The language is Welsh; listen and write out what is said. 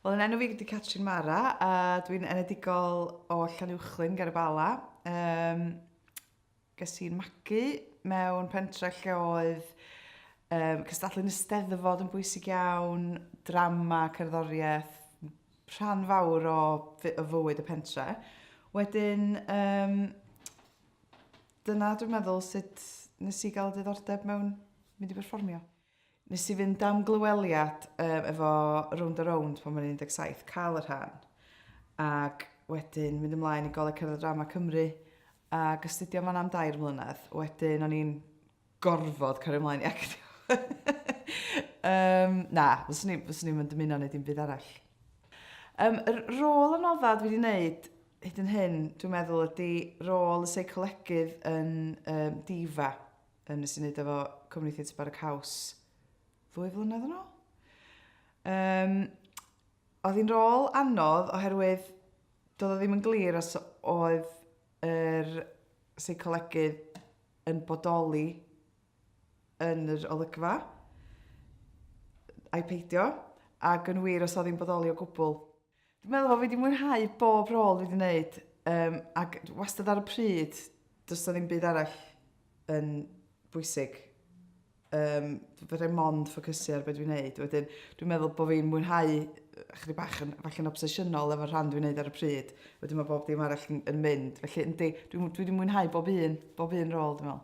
Wel yn enw fi ydi Catrin Mara a dwi'n enedigol o Llanuwchllyn ger y Bala. Um, ges i'n magu mewn pentre lle oedd um, cystadlu'n ysteddfod yn bwysig iawn, drama, cerddoriaeth, rhan fawr o, o fywyd y pentre. Wedyn, um, Dyna dwi'n meddwl sut nes i gael diddordeb mewn mynd i berfformio. Nes i fynd am glyweliad um, efo Round a Round pan o'n 17, cael y rhan. Ac wedyn mynd ymlaen i Goleg Cerdd a Drama Cymru ac astudio fan am dair mlynedd. Wedyn o'n i'n gorfod cario mlaen i actio. um, na, fyswn i'n fyswn i'n dymuno wneud un byd arall. Um, yr rôl anodda dwi wedi wneud hyd yn hyn, dwi'n meddwl, ydy rôl y seicolegydd yn um, difa yn nes i wneud efo Cymru Theatr Barrack House ddwy flynedd yn ôl. Um, oedd hi'n rôl anodd oherwydd doedd o ddim yn glir os oedd yr seicolegydd yn bodoli yn yr olygfa, ai peidio, ac yn wir os oedd hi'n bodoli o gwbl. Dwi'n meddwl bod fi wedi mwynhau bob rôl fi wedi gwneud, um, ac wastad ar y pryd, does o ddim byd arall yn bwysig Yym, fedrai mond ffocysu ar be dwi'n neud. Wedyn, dwi'n meddwl bod fi'n mwynhau chdi bach yn, falle yn obsesiynol efo'r rhan dwi'n neud ar y pryd. Wedyn mae bob dim arall yn, yn mynd. Felly, yndi, dwi, dwi wedi mwynhau bob un, bob un rôl, dwi'n meddwl.